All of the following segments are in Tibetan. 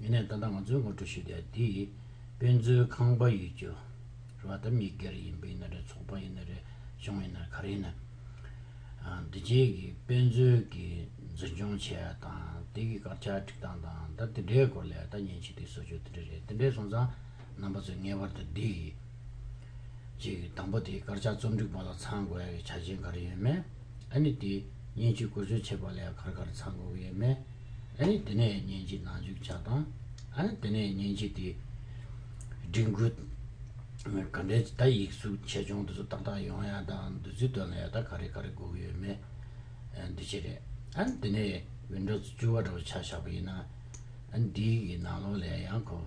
ཡིན་ནའི་ད་ལྟ་ང་ཚོའི་ངོ་སྤྲོད་ཞུ་དག་འདི་དཔེ་མཛོད་ཁང་པ་ཡིས་ཀྱི་རེད་བ་ད་མི་སྒེར་ཡིན་པ་ཡིན་ན་རེད་ཚོགས་པ་ཡིན་ན་རེད་གཞུང་ཡིན་ན་རེད་ག་རེ་ཡིན་ན་འདི་རྗེས་ཀྱི་དཔེ་མཛོད་ཀྱི་འཛིན་སྐྱོང་བྱས་ཡ་དང་དེ་གི་སྐར་ཆ་བསྒྲིགས་སྟངས་དང་ད་དེ་འདྲའི་སྐོར་ལས་ད་ཉིན་གཅིག་དེ་གསོལ་ཆོག་དེ་འདྲ་རེད་དེ་འདྲས་སོང་ཙང་རྣམ་པ་ཚོས་ངེས་པར་དུ་འདི་ཡི། གཅིག་དང་པོ་དེ་དཀར་ཆག་རྩོམ་སྒྲིག་པ་ལ་ཚང་དགོས་ཡག་གི་ཆ་རྐྱེན་ག་རེ་ཡོད་མེད། ཨ་ནི་དེ་སྙན་ཅུས་བཀོལ་སྤྱོད་བྱེད་པ་ལ་ཡང་གར་གར་ཚང་དགོས་ཀྱི་ཡོད་མེད། ཨ་ནི་དེ་ནས་སྙན་ཅུས་ནང་འཇུག་བྱ་སྟངས། ཨ་ནི་དེ་ནས་སྙན་ཅུས་དེ་སྒྲིག་འགོད། ག་འདྲའི་ད་ཡིག་གཟུགས་ཆེ་ཆུང་དེ་ཚོ་ཏག་ཏག་ཡོང་ཡག་དང་འདི་ཚོའི་དོན་ལ་ཡག་ད་ག་རེ་ག་རེ་དགོས་ཀྱི་ཡོད་མེད། འདི་བྱེད་རེད། ཨ་ནི་དེ་ནས་བིན་འགྲོ་ཚོ་བཅུ་བ་འདྲ་བོ་ཆགས་བཞག་པ་ཡིན་ན། ཨ་ནི་དེ་ཡིག་གི་ནང་ལོགས་ལ་ཡང་ཡང་གོ།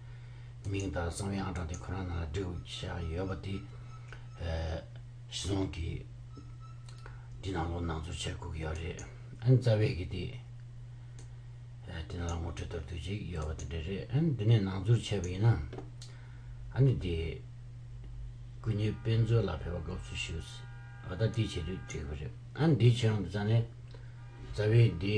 མིང་དང་གསང་བའི་ཨང་གྲངས་དེ་ཁོ་རང་ནང་ལ་སྒྲིག་དགོས་ཀྱི་བྱ་བ་ཡོད་པ་དེ། ཞིས་ལུང་གིས། འདི་ནང་ལོགས་ནང་འཛུལ་བྱེད་དགོས་ཀྱི་ཡོད་རེད། ཨན་རྩ་བས་ཀྱིས་དེ། འདི་ནང་ལ་ངོ་སྤྲོད་གཏོར་དུས་ཅིག་ཡོད་པ་དེ་འདྲ་རེད། ཨན་འདི་ནས་ནང་འཛུལ་བྱས་པ་ཡིན་ན། ཨ་ནི་དེ། སྐུ་ཉིད་དཔེ་མཛོད་ལ་ཕེབས་པ་དགའ་བསུ་ཞུ། ཨ་ད་ལྟའི་བྱེད་དུས་བྲིས་པ་རེད། ཨན་འདི་ཆེ་རང་དུ་བཙལ་ནས། རྩ་བས་འདི།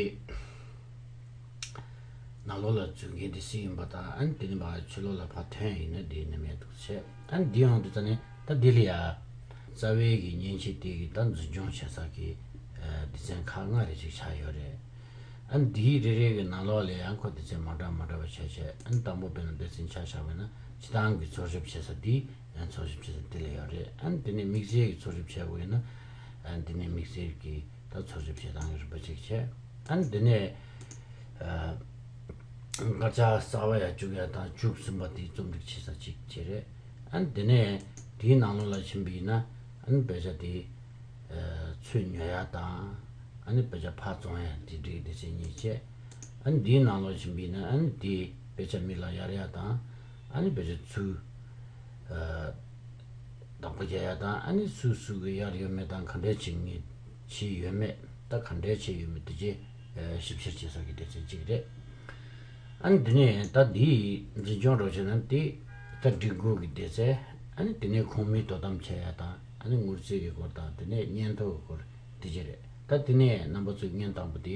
ནག་ལོ་ལ་བརྫུས་མཁན་དེ་སུ་ཡིན་པ་དང་ཨ་ནི་དེ་ནི་བག་ཆུ་ལོ་ལ་བག་ཐོན་ཡིན་ན་དེ་ནི་མེད་འདུག་ཟེར་ཨ་ནི་འདི་ཡོང་དུས་ཙཱ་ནི་ད་ལྡི་ལི་ཡ། རྩ་བའི་གི་མཉེན་ཆས་དེ་གི་ད་འཛིན་སྐྱོང་བྱེད་ས་གི་སྡེ་ཚན་ཁག་ལྔ་རེ་ཅིག་ཆགས་ཡོད་རེད། ཨ་ནི་དེའི་རེ་རེ་གི་ནག་ལོ་ལ་ཡང་ཁོ་སྡེ་ཚན་མང་དྲག་མང་དྲག་པ་ཆགས་ཆེ་ཨ་ནི་དང་པོ་བོད་ནང་སྡེ་ཚན་ཆགས་ཆགས་མེད་ན་སྤྱི་ཐང་གི་འཚོལ་ཞིབ་བྱེད་ས་དེ་འཚོལ་ཞིབ་བྱེད་ས་དེ་ལ་ཡོད་རེད་ཨ་ནི་དེ་ནི་དམིགས་བསལ་གི་འཚོལ་ཞིབ་བྱེད་དགོས་ཡོད་ན་ཨ་ནི་དེ་ནི་དམིགས་བསལ་གི། ད་འཚོལ་ཞིབ་བྱེད་སྟངས་རིམ་པ་གཅིག་བྱས། ད་ནི་འདི་ནས་སྐར་ཆ་གསར་བ་ཡ་བཅུ་གཡར་དང་བཅུ་གསུམ་པ་དེའི་རྩོམ་སྒྲིག་བྱེད་ས་གཅིག་བྱས། རེད་ཨང། འདི་ནས་དེའི་ནང་ལོགས་ལ་ཕྱིན་པ་ཡིན་ན་ཨ་ནི་དཔེ་ཆ་དེ་ཚུད་ཉོ་ཡ་དང་ཨ་ནི་དཔེ་ཆ་ཕར་བཙོང་ཡ་དེ་སྒྲིག་བདེ་ཆེན་གཉིས་བྱས། ཨ་ནི་དེའི་ནང་ལོགས་ཕྱིན་པ་ཡིན་ན་ཨ་ནི་དེའི་དཔེ་ཆ་མིག་ལ་གཡར་ཡ་དང་ཨ་ནི་དཔེ་ཆ་ཚུད། བདག་པོ་རྒྱ་ཡག་དང་ཨ་ནེ་སུའུ་སུའུ་གི་ཡག་ཡོད་མེད་དང་ག་འདྲའི་བྱེད་ངེས་བྱས་ཡོད་མེད་ད་ག་འདྲའི་བྱས་ཡོད་མེད་དེ་རྗེས་ཞིབ་བཤེར་བྱེད་ས་ཀྱི་སྡེ་ཚན་གཅིག་རེད་ཨ་ནེ་དེ་ནས་ད་འདིའི་འཛིན་སྐྱོང་རོགས་བྱེད་ན་དེ་ད་སྒྲིག་འགོ་གི་སྡེ་ཚན་ཨ་ནེ་དེ་ནས་ཁོང་མིས་དོ་དམ་བྱ་ཡག་དང་ཨ་ནེ་དངུལ་རྩིས་ཀྱི་སྐོར་དང་དེ་ནས་སྙན་ཐོ་གི་སྐོར་དེ་རྗེས་རེད་ད་དེ་ནས་རྣམ་པ་ཚོས་བརྙན་དང་པོ་དེ།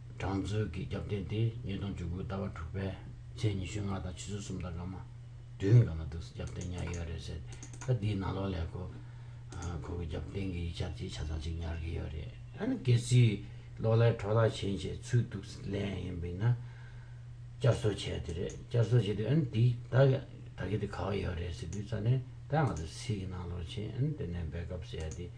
གྲངས་མཛོད་ཀྱི་རྒྱབ་རྟེན་དེ་ཉིས་སྟོང་བཅུ་དགུའི་ཟླ་བ་དྲུག་པའི་ཚེས་ཉི་ཤུ་ལྔ་དང་ཕྱི་ཚུལ་གསུམ་དང་སྔ་མ་བདུན་གང་ན་འདུག་རྒྱབ་རྟེན་ཉག་ཡོད་རེད་ཟེར་ད་འདིའི་ནང་ལོགས་ལས་ཁོ་ཁོ་གི་རྒྱབ་རྟེན་གྱི་ཡིག་ཆ་དེ་ཆ་ཚང་ཅིག་ཉར་གི་ཡོད་རེད་ཨ་ནི་གལ་སྲིད་ལོགས་ལས་འཕྲོ་བརླག་བྱེད་བྱེད་ཚུལ་འདུག་ལན་ཡིན་པའི་ན་བསྐྱར་གསོ་བྱས་དེ་རེད་བསྐྱར་གསོ་བྱས་དུས་ཨ་ནི་འདིའི་ད་གི་ད་གི་དེ་ག་བ་ཡོད་རེད་ཟེར་དུས་ད་ནི་ད་ང་ཚོ་ཚིག་གི་ནང་ལོགས་ཕྱིན་ཨ་ནི་དེ་ནས་འབད་སྐབས་བྱས་དེ།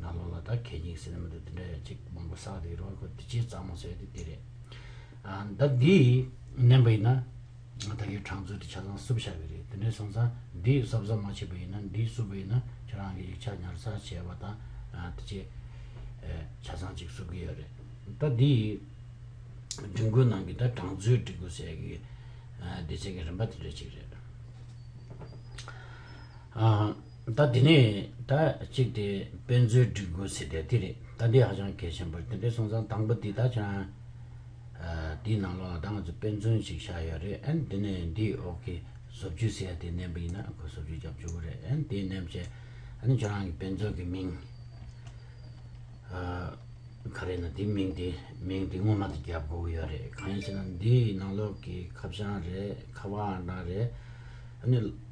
ནང་ལོགས་ལ་ད་གད་ཀྱིན་ཟེར་ནི་མི་འདུག་དེ་འདྲ་ཡོད་ཅིག་མང་པོ་བསགས་འདུག་ཡིན་རུང་ཁོས་དུས་ཆེན་གཙང་མ་ཟེར་དུས་དེ་རེད། ད་འདི་ནན་པ་ཡིན་ན། ད་གའི་གྲངས་ཚུལ་དེ་ཆ་ཚང་བསུབ་བཞག་གི་རེད་དེ་འདྲའི་སོང་ཙང་འདི་གསབ་གསབ་མ་བྱས་པ་ཡིན་ན་འདི་བསུབ་པ་ཡིན་ན་ཁྱེད་རང་གི་ཡིག་ཆ་ཉར་ཚགས་བྱས་པ་དང་དེ་ཆེ་ཆ་ཚང་ཅིག་བསུབ་གི་ཡོད་རེད། ད་འདི་སྒྲིག་འགོའི་ནང་གི་ད་གྲངས་ཚུལ་སྒྲིག་འགོ་ཟེར་གི་བདེ་ཆེན་གི་རིན་པ་དེ་འདྲ་ཅིག་རེད། ད་དེ་ནས་ད་གཅིག་དེ་དཔེ་མཛོད་སྒྲིག་དགོས་ཟེར་དེ་དེ་རེད་ད་འདི་ཧ་ཅང་གལ་ཆེན་པོ་རེད་དེ་འདྲའི་སོང་ཙང་དང་པོ་དེ་ད་ཆང་དེའི་ནང་ལོགས་ལ་ད་ང་ཚོ་དཔེ་མཛོད་ཅིག་བཞག་ཡོད་རེད་ཨན་དེ་ནས་འདི་འོག་གི་བཟོ་བཅོས་ཟེར་ཡ་དེ་མནན་པ་ཡིན་ན་ཁོ་བཟོ་བཅོས་རྒྱབ་བཅུག་གོ་རེད་ཨན་དེ་མནན་བྱས་ཨན་ཁྱོད་རང་གི་དཔེ་མཛོད་ཀྱི་མིང་ག་རེད་ན་དེ་མིང་དེ་མིང་དེ་སྔོན་མ་དེ་རྒྱབ་དགོས་ཀྱི་ཡོད་རེད་གང་ཡིན་ཟེར་ན་འདིའི་ནང་ལོགས་ཀྱི་ཁ་བྱང་རེད་ཁ་བ་འང་རེད་ཨན།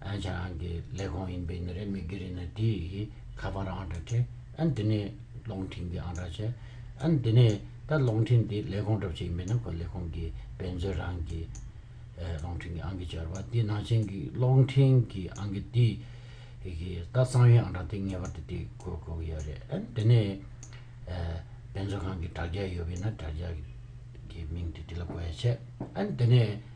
ཨན་ཆང་ཨན་གྱི་ལས་ཁུངས་ཡིན་པའི་ནི་རེ་མི་གི་རེ་ནི་དེ་ཡི་ཁ་པར་ཨང་གྲ་ཁྲེ་ཨན་དེ་ནི་ལོང་ཁྲིན་གི་ཨང་གྲ་ཆེ་ཨན་དེ་ནི་ད་ལོང་ཁྲིན་དེ་ལས་ཁུངས་གྲུབ་ཆེ་ཡིན་པའི་ནི་ཁོ་ལས་ཁུངས་གི་བེན་ཛོས་རང་གི་ལོང་ཁྲིན་གི་ཨང་གི་བྱོར་བ་དེ་ནང་ཆེན་གི་ལོང་ཁྲིན་གི་ཨང་གི་དེ་ཡི་ད་གཙང་བའི་ཨང་གྲ་དེ་ངེས་པར་དུ་དེ་གོ་དགོས་གི་ཡོད་རེད་ཨན་དེ་ནི་བེན་ཛོ་ཁང་གི་དྲ་རྒྱ་ཡོད་པའི་ནི་དྲ་རྒྱ་གི་མིང་དེ་དེ་ལ་གོ་ཡ་ཆེ་ཨན་དེ་ནི།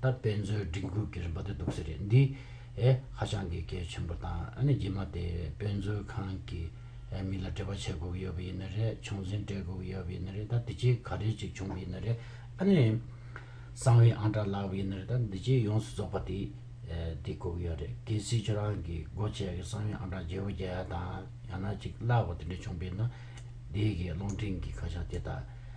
ད་དཔེ་མཛོད་སྒྲིག་འགོད་ཀྱི་རིམ་པ་དེ་སྡུག་ས་རེད་འདི། ཧ་ཅང་གི་གལ་ཆེན་པོ་དང་ཨ་ནི་རྗེས་མ་དེ་དཔེ་མཛོད་ཁང་གི་མི་ལ་འབྲེལ་བ་བྱེད་དགོས་ཀྱི་ཡོད་པ་ཡིན་ན་རེད་བྱུང་འཛིན་སྤྲད་དགོས་ཀྱི་ཡོད་པ་ཡིན་ན་རེད་ད་འདི་ཆེ་ག་རེ་ཅིག་བྱུང་གི་ཡིན་ན་རེད་ཨ་ནི། གསང་བའི་ཨང་གྲགས་ལགས་པ་ཡིན་ན་རེད་ད་འདི་ཆེ་ཡོངས་སུ་རྫོགས་པ་དེ་དེ་དགོས་ཀྱི་ཡོད་རེད་གལ་སྲིད་ཁྱོད་རང་གི་སྒོ་ཆས་ཀྱི་གསང་བའི་ཨང་གྲགས་བརྗེ་བོ་བརྒྱ་ཡ་དང་ཡང་ན་གཅིག་བརླག་པ་དེ་འདྲ་བྱུང་པས་ན་དེའི་གི་རླུང་འཕྲིན་གྱི་ཁ་བྱང་དེ་དག་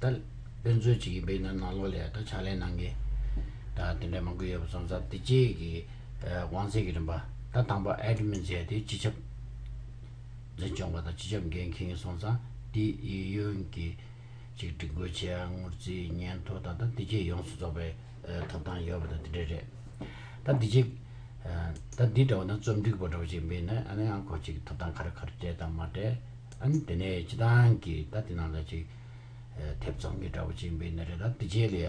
ད་དཔེ་མཚོན་ཅིག་ཡིན་པས་ན་ནང་ལོགས་ལས་ད་ཕྱག་ལེན་གནང་གི། ད་དེ་འདྲ་མང་པོ་ཡོད་པ་ཙམ་ཙམ་དེ་རྗེས་ཀྱི་དབང་ཚད་ཀྱི་རིམ་པ་ད་དང་པ Admin བྱས་ཏེ་སྤྱི་ཁྱབ་འཛིན་སྐྱོང་པ་དང་སྤྱི་ཁྱབ་འགན་འཁི་ངེ་སོང་ཙང་དེ་ཡི་ཡོན་གྱི་ཅིག་སྒྲིག་འགོད་བྱས་ཡ་ངོར་རྩིས་སྙན་ཐོ་དང་ད་དེ་རྗེས་ཡོངས་སུ་རྫོགས་པའི་ཐོབ་ཐང་ཡོད་པ་དང་དེ་འདྲ་རེད། ད་དེ་རྗེས་ད་འདི་འདྲ་བ་ན་རྩོམ་སྒྲིག་པ་འདྲ་བ་ཅིག་ཡིན་པས་ན་ཨ་ནི་ཨང་ཁོ་ཅིག་ཐོབ་ཐང་ག་རེ་ག་རེ་སྤྲད་དང་མ་སྤྲད། ཨ་ནི་དེ་ནས་ཅི་ཐང་གི་ད་དེ་ནང་ལ་ཅིག། ཐེབས་ཚོང་གི་འདྲ་པོ་ཅིག་འབེལ་ནི་རེད་ད་དེ་རྗེས་ལ་ཡ།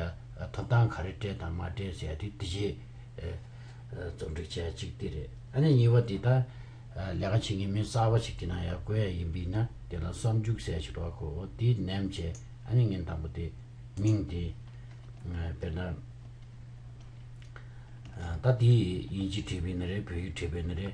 ཐོབ་ཐང་ག་རེ་སྤྲད་དང་མ་སྤྲད་ཟེར་ཡ་དེ་དེ་རྗེས། རྩོམ་སྒྲིག་བྱས་ཅིག་དེ་རེད་ཨ་ནི་གཉིས་པ་དེ་ད། ལས་ཀ་བྱེད་མཁན་མི་གསར་བ་ཞིག་གི་ནང་ཡ་བཀོལ་ཡ་ཡིན་པས་ན་དེ་ལ་བསམ་འཇུག་གསལ་ཞིག་རོགས་གོ་དེ་ནེམ་བྱས་ཨ་ནི་ངན་དང་པོ་དེ། མིང་དེ། དཔེར་ན། ད་དེ་ཡིན་གཅིག་བྲིས་པས་ནི་རེད་བོད་ཡིག་བྲིས་པས་ནི་རེད།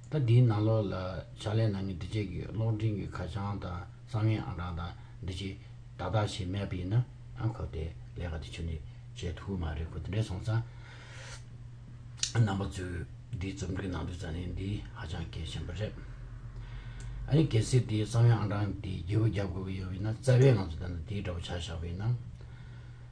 ཟླ་འདིའི་ནང་ལོགས་ལ་ཕྱག་ལེན་གནང་མཁན་འདི་བཅས་ཀྱི་གློག་འཕྲིན་གྱི་ཁ་བྱང་དང་གསང་བའི་ཨང་གྲངས་དང་འདི་བཅས་དག་དག་བྱས་མེད་པ་ཡིན་ན་ཁོ་དེ་ལས་ཀ་དེ་ཆུ་ནས་བྱེད་ཐུབ་ཀྱི་མ་རེད་ཁོ་དེ་འདྲའི་སོང་ཙང་རྣམ་པ་ཚོས་འདིའི་རྩོམ་སྒྲིག་གནང་དུས་ཙང་ལས་འདི་ཧ་ཅང་གལ་ཆེན་པོ་རེད། ཨ་ནི་གལ་སྲིད་དེའི་གསང་བའི་ཨང་གྲངས་དེ་བརྒྱད་པོ་བརྒྱབ་དགོས་ཀྱི་ཡོད་པ་ཡིན་ན་རྩ་བའི་ང་ཚོ་དེ་འདྲ་དེའི་འདྲ་བོ་བྱ་བཞག་པ་ཡིན་ན།